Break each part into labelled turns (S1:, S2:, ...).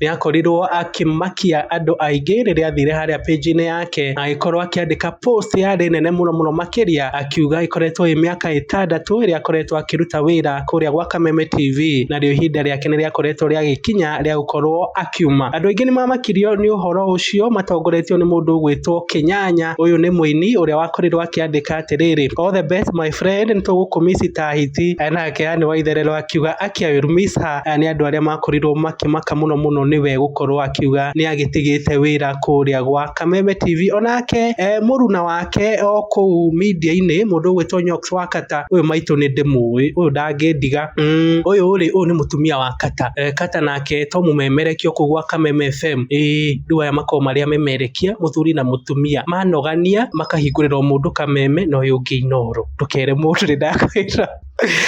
S1: Nĩ akorirwo akĩmakia andũ aingĩ rĩrĩa athire harĩa page-inĩ yake na agĩkorwo akĩandĩka post yarĩ nene mũno mũno makĩria akiuga ĩkoretwo ĩ mĩaka ĩtandatũ ĩrĩa akoretwo akĩruta wĩra kũrĩa gwa Kameme TV narĩo ihinda rĩake nĩ rĩakoretwo rĩagĩkinya rĩa gũkorwo akiuma. Andũ aingĩ nĩ mamakirio nĩ ũhoro ũcio matongoretio nĩ mũndũ ũgwĩtwo Kĩnyanya. Ũyũ nĩ mũini ũrĩa wakorirwo akĩandĩka atĩrĩrĩ all the best my friend nĩ tũgũkũmiss ta hiti. Nake Anne Waitherero akiuga akĩ I will miss her. Aya nĩ andũ arĩa makorirwo makĩmaka mũno mũno nĩwe gũkorwo akiuga nĩ agĩtigĩte wĩra kũrĩa gwa Kameme TV. Onake e mũruna wake o kũu media-inĩ mũndũ ũgwĩtwo Nyox wa Kata, ũyũ maitũ nĩ ndĩmũĩ, ũyũ ndangĩndiga. Mm, ũyũ rĩ, ũyũ nĩ mũtumia wa Kata. E, Kata nake to mũmemerekia kũu gwa Kameme FM. Ĩĩ, rĩu aya makoragwo marĩ amemerekia, mũthuri na mũtumia. Manogania, makahingũrĩrwo mũndũ Kameme na ũyũ ũngĩ Inooro. Ndũkere mũndũ nĩ ndakwĩra.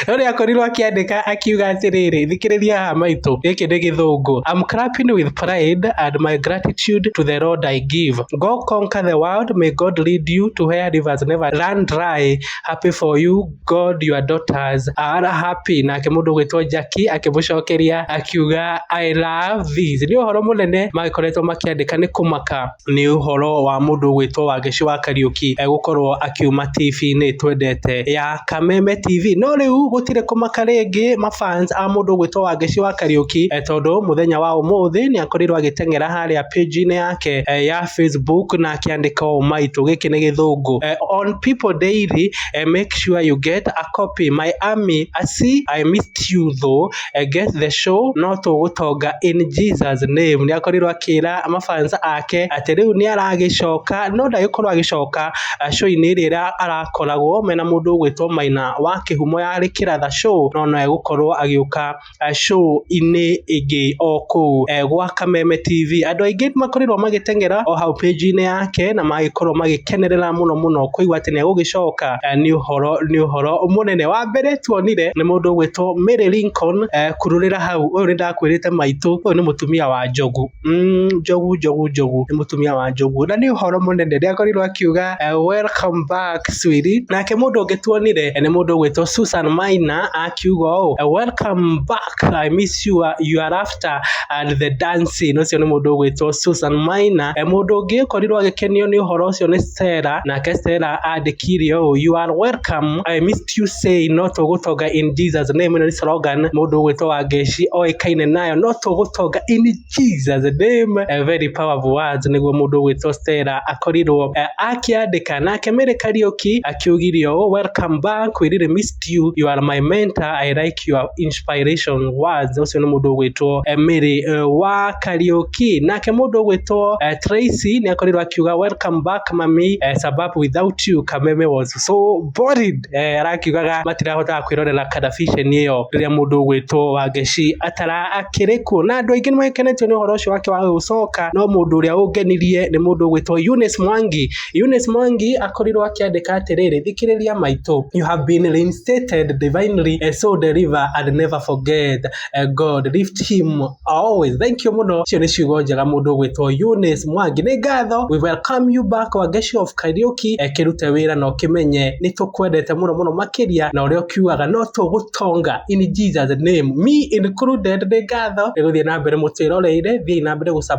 S1: No nĩ akorirwo akĩandĩka akiuga atĩrĩrĩ, thikĩrĩria haha maitũ, gĩkĩ nĩ gĩthũngũ. I'm clapping with pride and my gratitude to the Lord I give. Go conquer the world, may God lead you to where rivers never run dry. Happy for you, God your daughters are happy. Nake mũndũ ũgwĩtwo Jackie akĩmũcokeria akiuga I love this. Nĩ ũhoro mũnene magĩkoretwo makĩandĩka nĩ kũmaka. nĩ ũhoro wa mũndũ ũgwĩtwo Wangeci wa Kariũki egũkorwo akiuma TV-inĩ twendete ya Kameme TV. No rĩu gũtirĩ kũmaka rĩngĩ ma fans a mũndũ ũgwĩtwo Wangeci wa Kariũki eh, tondũ mũthenya wa ũmũthĩ nĩ akorirwo agĩteng'era harĩa page-inĩ yake eh, ya Facebook na akĩandĩka ũũ maitũ gĩkĩ nĩ gĩthũngũ eh, on people daily eh, make sure you get a copy my army I see I missed you though Enge the show no tũgũtonga in Jesus name. Nĩ akorirwo akĩra mafans ake atĩ rĩu nĩ aragĩcoka no ndagĩkorwo agĩcoka eh, show-inĩ ĩrĩa ĩra- arakoragwo mena mũndũ ũgwĩtwo Maina wa kĩhumo ya rĩkĩra the show no no egũkorwo agĩũka eh, show-inĩ ĩngĩ o kũu eh, gwa Kameme TV. Andũ aingĩ makorirwo magĩteng'era o hau page-inĩ yake na magĩkorwo magĩkenerera mũno mũno kũigua atĩ nĩ egũgĩcoka eh, nĩ ũhoro nĩ ũhoro mũnene wa mbere tuonire nĩ mũndũ ũgwĩtwo Mary Lincoln eh, kururĩra hau ũyũ nĩ ndakwĩrĩte maitũ ũyũ nĩ mũtumia wa njogu mm, njogu njogu njogu nĩ mũtumia wa njogu na nĩ ũhoro mũnene nĩ akorirwo akiuga eh, welcome back swiri nake mũndũ ũngĩ tuonire eh, nĩ mũndũ ũgwĩtwo Susan Maina akiuga ũũ eh, welcome back I miss you, uh, you are Master and the Dancing, ũcio nĩ mũndũ ũgwĩtwo Susan Maina. E, mũndũ ũngĩ ũkorirwo agĩkenio nĩ ũhoro ũcio nĩ Stella, nake Stella andĩkire ũũ, you are welcome, I missed you say no tũgũtonga in Jesus name. Ĩno nĩ slogan mũndũ ũgwĩtwo Wangeci oĩkaine nayo, no tũgũtonga in Jesus name. E, very powerful words nĩguo mũndũ ũgwĩtwo Stella akorirwo e, akĩandĩka nake Mary Kariuki akiugire ũũ, welcome back, we really missed respect you you are my mentor i like your inspiration words ucio ni mundu ugwitwo eh, miri eh, wa kariuki nake mundu ugwitwo eh, tracy ni akorirwo akiuga welcome back mami eh, sababu without you kameme was so boring eh, arakiugaga matirahotaga kwirorera kadafisheni iyo riria mundu ugwitwo wangeci atara akiri kuo na andu aingi ni makenetio ni uhoro ucio wake wa gucoka no mundu uria ungenirie ni mundu ugwitwo Eunice Mwangi Eunice Mwangi akorirwo akĩandĩka atĩrĩrĩ, thikĩrĩria maitũ, you have been reinstated divinely, eh, so deliver and never forget, eh, God lift him always. Thank you mũno, icio nĩ ciugo njega mũndũ ũgwĩtwo Eunice Mwangi. Nĩ ngatho, we welcome you back Wangeshi of Kariuki, eh, kĩrute wĩra na ũkĩmenye nĩ tũkwendete mũno mũno makĩria na ũrĩa ũkiugaga no tũgũtonga in Jesus name me included. Nĩ ngatho, nĩ gũthiĩ na mbere mũtwĩroreire, thiĩ na mbere gũ